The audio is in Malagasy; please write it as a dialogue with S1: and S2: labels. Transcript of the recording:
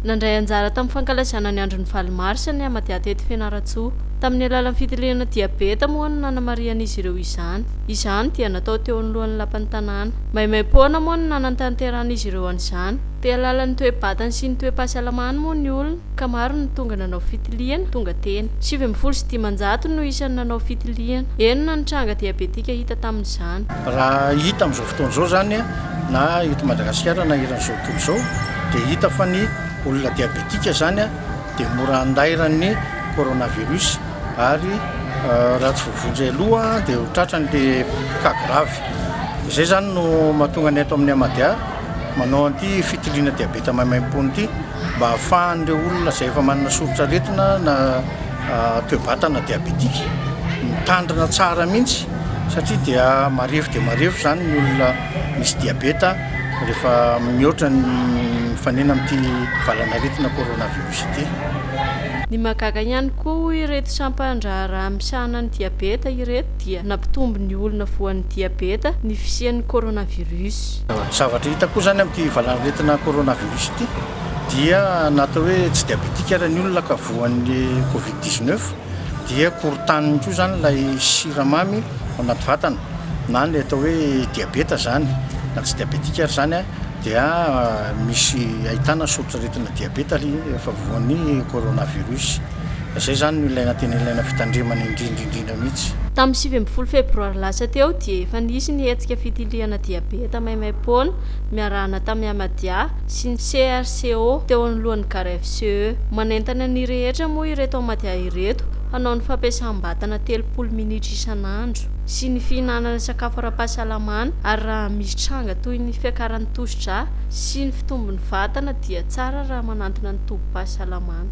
S1: Nandray anjara tamin'ny fankalazana ny andron'ny valo marsa ny Amathiatety Fianarantsoa. Tamin'ny alalan'ny fitiliana diabeta moa no nanamarihan'izy ireo izany. Izany dia natao teo anoloan'ny lapan'ny tanàna. Maimaim-poana moa no nanantanterahan'izy ireo an'izany. Te-hahalala ny toe-batany sy ny toe-pahasalamany moa ny olona ka maro no tonga nanao fitiliana, tonga teny. Sivy ambin'ny folo sy dimanjato no isan'ny nanao fitiliana. Enina ny tranga diabetika hita tamin'izany. Raha hita
S2: amin'izao fotoana izao izany na eto Madagasikara na eran'izao tontolo izao, dia hita fa ny olona diabetika izany dia mora andairan'ny coronavirus ary raha tsy voavonjy aloha dia ho tratrany ilay cas grave. Izay izany no mahatonga ny eto amin'ny Amadia manao an'ity fitiliana diabeta maimaimpoana ity mba hahafahan'ireo olona izay efa manana soritr'aretina na toe-batana diabetika mitandrina tsara mihitsy satria dia marefo dia marefo izany ny olona misy diabeta rehefa mihoatra ny mifanena amin'ity valan'aretina coronavirus ity. Ny
S1: mahagaga ihany koa hoy ireto sampan-draharaha misahana ny diabeta ireto dia nampitombo ny olona voan'ny diabeta ny fisian'ny coronavirus. Zavatra hita
S2: koa izany amin'ity valan'aretina coronavirus ity dia na atao hoe tsy diabetika ary ny olona ka voan'ny covid dix-neuf, dia korontaniny koa izany ilay siramamy ao anaty vatana na ny atao hoe diabeta izany na tsy diabetika ary izany dia misy ahitana soritr'aretina diabeta rehefa voan'ny coronavirus. Izay izany no ilaina tena ilaina fitandremana indrindra indrindra mihitsy. Tamin'ny sivy ambin'ny folo
S1: febroary lasa teo dia efa nisy ny hetsika fitiliana diabeta maimaim-poana miarahana tamin'i Ahmadiyya sy ny CRCO teo anoloan'ny GarFCE. Manentana ny rehetra moa ireto Amadia ireto hanao ny fampiasam-batana telopolo minitra isan'andro sy ny fihinanana sakafo ara-pahasalamana ary raha misy tranga toy ny fiakaran'ny tosi-drà sy ny fitombon'ny vatana dia tsara raha manantona ny tobim-pahasalamana.